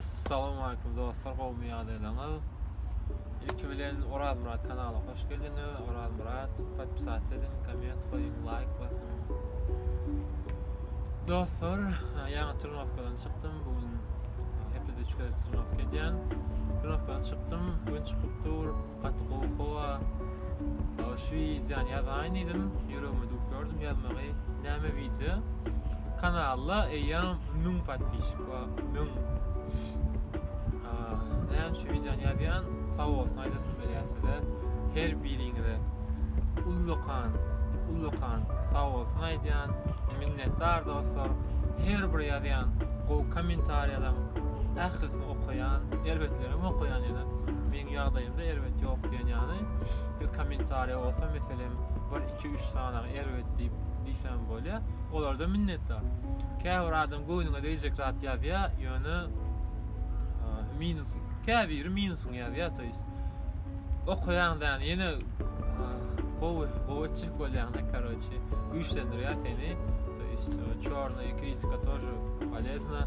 Salowmaleýkim dostlar gowmy ýagdaýlaryňyz Ilki bilen Orazmyrat kanala hoş geldiňiz Orazmyrat podpisasiýa ediň komment goýuň laýk basyň Dostlar ýaňy trenowkadan çykdym bu gün hepede 3 gezek trenowka edýän trenowkadan çykdym gün çykyp dur Gaty gowy howa. Şu wideony ýazaýyn diýdim, ýüregime düwüp ýördüm ýazmagy. Näme wideo? Kanalda eýýäm müň podpişik bar, müň. Näme şu wideony ýazýan? Sawolsun aýdasym gelýär size. Her biriňize ullakan, ullakan sawolsun aýdýan. Minnetdar dostlar. Her bir ýazýan gowy kommentariýalaryň ählisini okaýan, erbetlerem okaýan ýöne. Meň ýagdaýymda erbet ýok diýen ýaly, bir kommentariýa bolsa meselem bir iki üç sanaga erbet diýip diýsem bolýa. Olarda minnetdar. Käbir adam göwnüňe degjek zat ýazýa, ýöne minus, käbiri minusyny ýazýa, to ýes. Okaýaň da ýene gowy, gowy çyk bolýaň da, karoçi, güýçlendirýär seni. To ýes, çorny kritika toje polezna.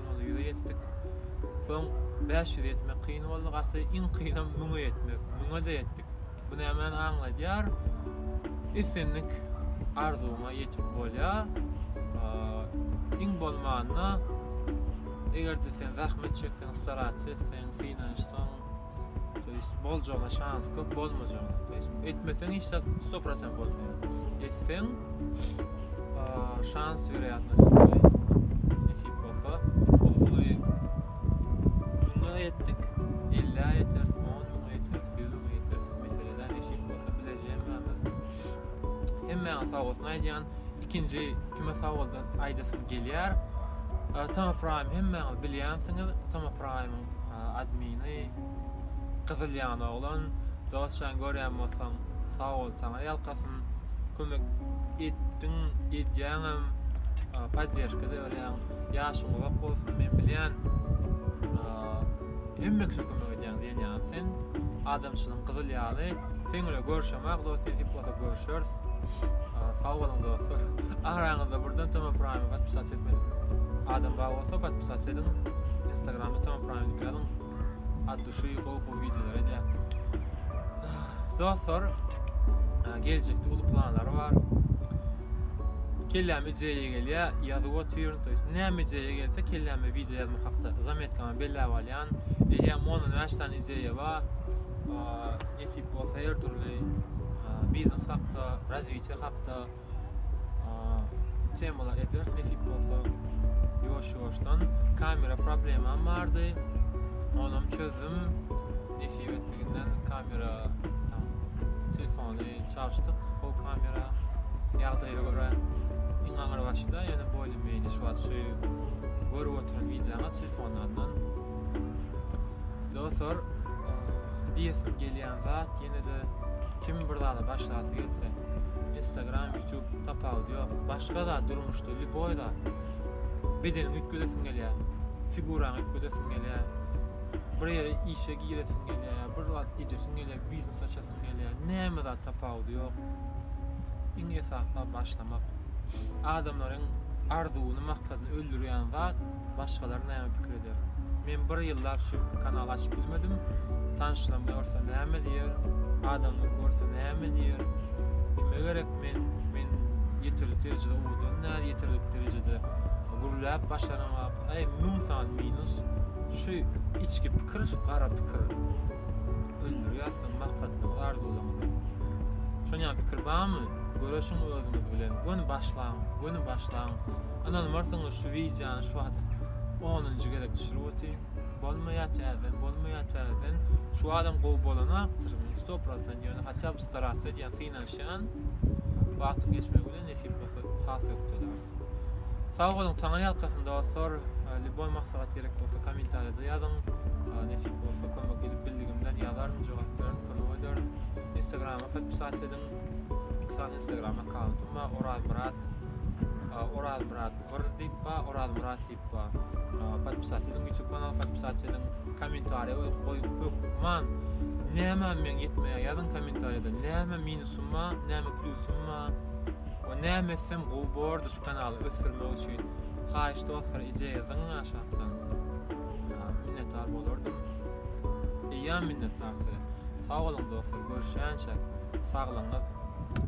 Ýola ýüze ýetdik. Soň bäş ýüze ýetmek kyn boldy. Gaty iň kynam müňe ýetmek. Müňe-de ýetdik. Bu nämäni aňladýar? Islendik arzuwyňa ýetip bolýar. Iň bolmanda, eger-de sen zähmet çekseň, starasiýa etseň, synanyşsaň, To ýest boljagyna şans köp, bolmajagyna. To ýest etmeseň hiç zat 100% bolmaýar. Etseň şans werýatnost ýokary. Nesip bolsa, huddy müňe etdik, 50 ýeteris, 10 müňe ýeteris, 100 müňe ýeteris. Meseleden nesip bolsa bilejegiň Hemmäňe sag bolsun aýdýan. ikinji kime sawalda aýdasym gelýär. Tama Prime hemmäňiz bilýänsiňiz, Tama Prime-iň admini gyzyl ýan oglan. Dostjan görýän bolsaň, sag bol, taňry ýalkasyn. Kömek etdiň, edýäňem, podderşka-da berýäň. Ýaşyň uzak bolsun, men bilýän. Hemme kişä kömek edýäň diýen ýaly sen adamçylygyň gyzyl ýaly sen bile görşemak dos nesip bolsa görşers sag boluň dostlar araňyzda birden toma praýmy patpisat etmedik adam bar bolsa patpisat ediň instagramda toma praýmy ýazyň ad duşy gowy gowy wideolar edýär dostlar geljekde uly planlar bar kelläme ideýa gelýär ýazyp otyryn to ýest näme ideýa gelse kelläme wideo ýazmak hakda zametka belläp alýan. Eýýäm ondan bäş sany ideýa bar. Nesip bolsa her dürli biznes hakda, razwitiýe hakda temalar eders nesip bolsa. Ýuwaş-ýuwaşdan kamera problemam bardy. Onam çözdüm. nesip etdiginden kamera tam telefony çalyşdyk o kamera ýagdaýa görä iň aňyr başyda ýöne boýly meýli şu wagt şu görüp oturan wideoňa telefonlardan dostlar diýesim gelýän zat ýene de kim bir zada başlasy gelse instagram youtube tapawudy ýok başga zat durmuşda любой zat bedeniňi üýtgedesiň gelýär figuraňy üýtgedesiň gelýär bir ýere işe giresiň gelýär, ýa bir zat edesiň gelýär, biznes açasyň gelýär. Näme zat tapawudy ýok. Iň esasy başlamak. Adamlaryň arzuwyny, maksadyny öldürýän zat başgalar näme pikir eder. Men bir ýyllap şu kanal açyp bilmedim. Tanşlarym görse näme diýer? Adamlar görse näme diýer? Kime gerek men? Men ýeterlik derejede owadan däl, ýeterlik derejede gürläp başaramok. Aý müň sany minus şu içki pikir şu gara pikir öldürýär siziň maksatlaryňyzy arzuwlaryňyzy. Şonýa pikir barmy? Göreşiň özüňiz bilen göni başlaň göni başlaň ynanmarsyňyz şu wideony şu wagt onunjy gezek düşürip otyryn bolmaýar täzeden bolmaýar täzeden şu adam gowy bolanakdyr sto prosent ýöne haçap starats edýän synanyşýan wagtyň geçmegi bilen nesip bolsa has ökdeler. Sag boluň, taňry ýalkasyn dostlar. Liboý maslahat gerek bolsa kommentariýada ýazyň. Nesip bolsa kömek edip bildigimden ýazaryn, jogap bererin, kömek ederin. Instagrama podpisat ediň. Mysal Instagram akkauntym bar, Orazmyrat Orazmyrat 1 diýip bar, Orazmyrat Ba. Podpisat ediň YouTube kanal podpisat ediň. Kommentariýa goýuň, goýuň hökman. Näme meň ýetmeýär ýazyň kommentariýada. Näme minusym ba, näme plusym ba. We näme etsem gowy bordy şu kanaly ösdürmek üçin. Haýyş dostlar ije ýazyň aşakdan. Minnetdar bolardym. Eýýäm minnetdar size. Sag boluň dostlar, görüşýänçäk. Saglygyňyz.